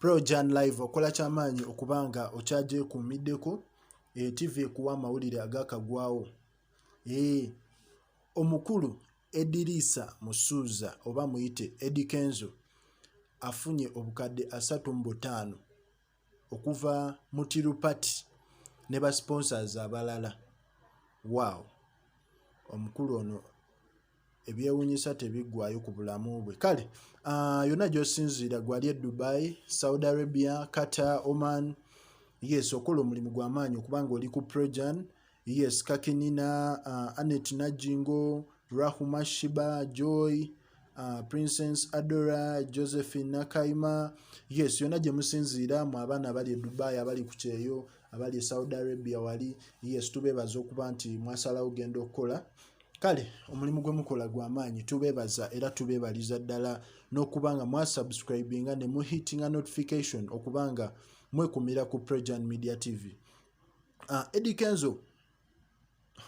Projan Live okola kyamaanyi okuba nga okyagyekuumiddeko eh, TV ekuwa amawulire agakagwawo eh, omukulu Ediriisa Musuuza oba muyite Eddy Kenzo afunye obukadde asatu mu butaano okuva mu Tirupati ne ba sponsors abalala. Waawo omukulu ono ebyewunyisa tebiggwayo ku bulamu bwe kale uh, yonna gyosinziira gwali e dubai saudi arabia qatar oman yes okola omulimu gwamaanyi okubanga oli ku prejan yes kakinina uh, anet najingo rahuma shiba joy uh, princess adora josephine nakaima yes yonna gye musinziira mu abaana abali e dubai abali ku kyeyo abali e saudi arabia wali yes tubeebaza okuba nti mwasalawo genda okukola kale omulimu gwe mukola gwa maanyi tubeebaza era tubeebaliza ddala n'okuba nga mwasubscribinga ne muhitinga notification okuba nga mwekumira ku prejan media tv uh, ah, edi kenzo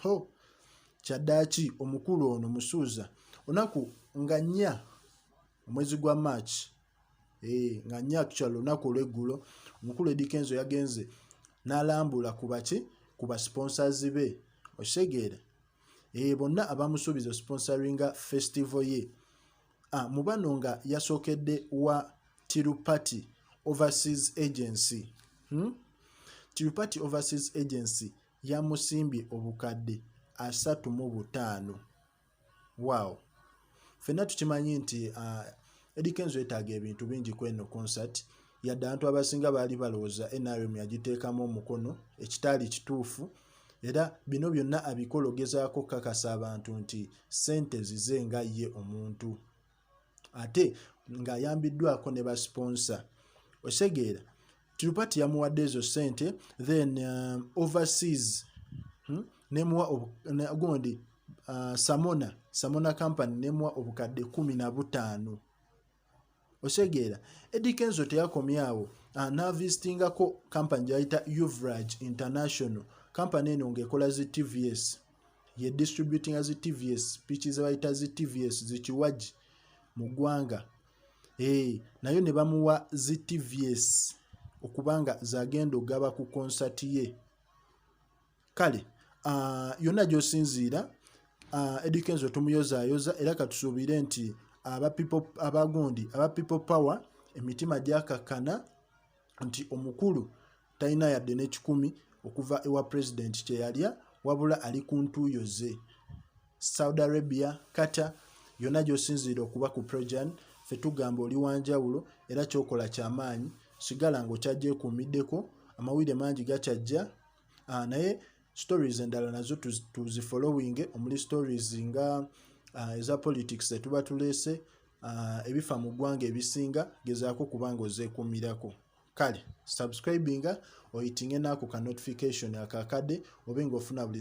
ho kyaddaaki omukulu ono musuuza onaku nga nnya omwezi gwa march eh, nga nya actual lunaku olweggulo omukulu edikenzo yagenze n'alambula ku baki ku basponsors be okitegeera eh, bonna abamusuubiza osponsoringa festival ye ah, mu bano nga yasookedde wa tirupati overseas agency hmm? tirupati overseas agency yamusimbye obukadde asatu mu butaano wow fenna tukimanyi nti uh, Eddie Kenzo yetaaga ebintu bingi kweno concert yadde abantu abasinga baali balowooza nrm yagiteekamu omukono ekitaali kituufu era bino byonna abikologezaako kakasa abantu nti sente zize nga ye omuntu ate ng'ayambiddwako ne basponsa osegeera tirupati yamuwadde ezo sente then um, overseas hmm? nemuwa gundi uh, samona samona company nemuwa obukadde kumi na butaano osegeera edi kenzo teyakomyawo uh, navisitingako company gyayita uvrage international company eno ngaekola zi tvs ye distributinga zi tvs piki zebayita zi tvs zikiwagi mu ggwanga ee eh, nayo ne bamuwa zi tvs okubanga zagenda ogaba ku konsati ye kale ah, yonna gyosinziira ah, edikenzo tumuyozayoza era katusuubire nti abagundi aba people power emitima gyakakkana nti omukulu talina yadde n'ekikumi okuva ewa pulezidenti kye yalya wabula ali ku ntuuyo ze saudi arabia kata yonna gy'osinziira okuba ku projan fe tugamba oli wanjawulo era kyokola kyamaanyi sigala ng'okyagyekuumiddeko amawulire mangi gakyajja ah, naye stories endala nazo tuzifollowinge omuli stories nga uh, eza politics etuba tuleese uh, ebifa mu ggwanga ebisinga gezaako kuba nga ozeekumirako kale subscribinga oyitinge naako ka notification akakade obe ngaofuna buli